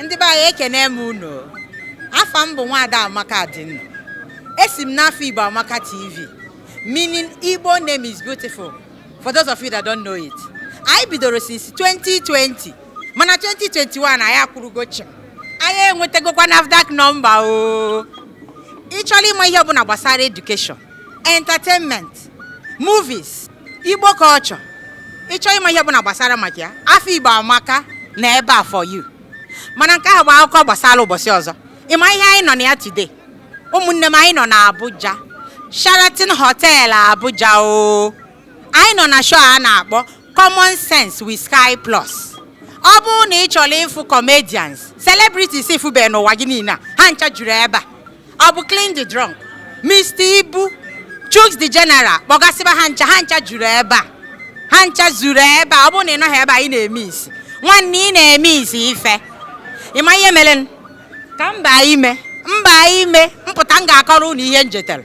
ndị be anyị ekene m unu afa m bụ nwaada amaka adịnnụ esi m n'afa igbo amaka tv meaning igbo name is beautiful for those of you that don't know it anyị bidoro since 2020 mana 2021 anyị akwụrụgo chịm anyị enwetagokwa NAFDAC number o ị chọrọ ịma ihe ọbụla gbasara education entertainment movies igbo culture ị chọrọ ịma ihe ọbụla gbasara maka ya afa igbo amaka nọ ebe a for you mana nke ahụ bụ akụkọ gbasara ụbọchị ọzọ ị ma ihe anyị nọ na ya today ụmụnne m anyị nọ na Abuja Sheraton Hotel Abuja o anyị nọ na show a na-akpọ common sense with sky plus ọ bụrụ na ị chọrọ ịfụ comedians celebrities ị fụbe n'ụwa gị niile a ha ncha juru ebe a ọ bụ klint da drunk mr ibu chuks the general kpọgasịba ha ncha ha ncha juru ebe a ha ncha zuru ebe a ọ bụrụ na ị nọghị ebe a ị na-emisi nwanne ị na-emisi ife ị ma ihe mere ka m baa ime m baa ime m pụta m ga-akọrọ unu ihe m jetere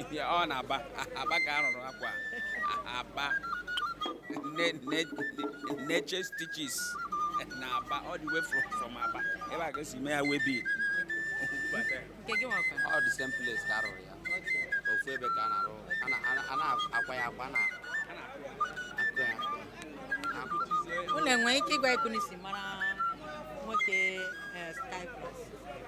ihe ọ n'aba aba ka a rụrụ akwa aba ne ne nature stitches na aba all the way from from aba ebe a ka e si mee ya waybill nke gị nwakwa ọ the same place ka a rụrụ ya ofu ebe ka a na-arụ a na- a na- a na-akwa ya akwa a na a na-akụ ya akụ ya akụ unu enwere ike ịgwa etu unu si mara nwoke eh, sky plus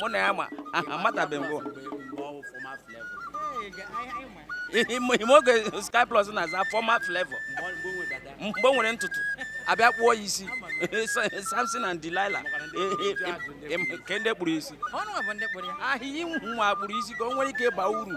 mụ na ya ma amatabeghị mbụ ime oge sky plus na-aza former flavour mgbe o nwere ntutu a bịa kpụọ ya isi samson and delilah kee ndị kpụrụ isi ya nwa kpụrụ isi ka o nwere ike ịba uru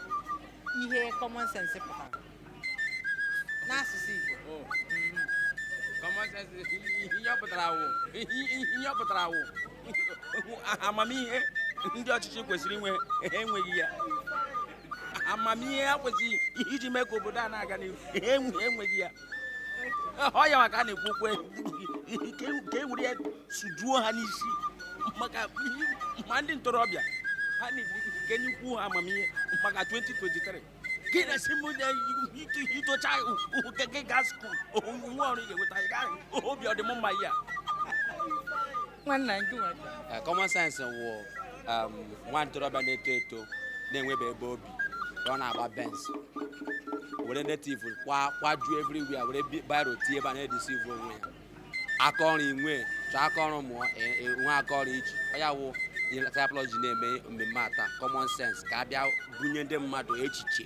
ihe common sense pụtara n'asụsụ Igbo Oh. Common sense ihe ọ pụtara wụ ihe ọ pụtara wụ amamihe ndị ọchịchị kwesịrị inwe enweghị ya amamihe ha kwesịrị iji mee ka obodo a na-aga n'ihu enwe- enweghị ya ọ ya maka a na-ekwu okwu ka e were ya sujuo ha n'isi maka ma ndị ntorobịa ha na-ekenyekwu ha amamihe maka 2023 gị na-esi m i tochaa ụke gị gaa school nwa ọrụ ị ga-enweta obi ọdịmma ya nwanna nke nwa Eh, common sense wụ um, nwa ntorobịa na-eto eto na-enwebe ebe obi ka ọ na-agba Benz were native kwa kwajuo everywhere were bi- biro tie ebe a na-edeceive onwe ya aka ọrụ inwe chọọ aka ọrụ mụọ e- e- nwe aka ọrụ iji Ọ ya wụ ihe Skyplus ji na-eme mmemme a taa common sense ka a bịa bunye ndị mmadụ echiche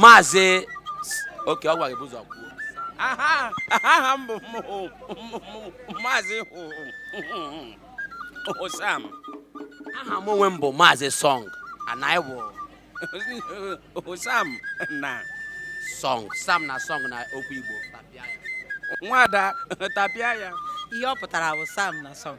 maazị oke ọ gwara gị ụzọ kwuo aha m bụ maazị Sam aha m onwe m bụ maazị Song anyị wụ Sam na Song Sam na Song na okwu Igbo tapịa ya nwada tapịa ya ihe ọ pụtara bụ Sam na Song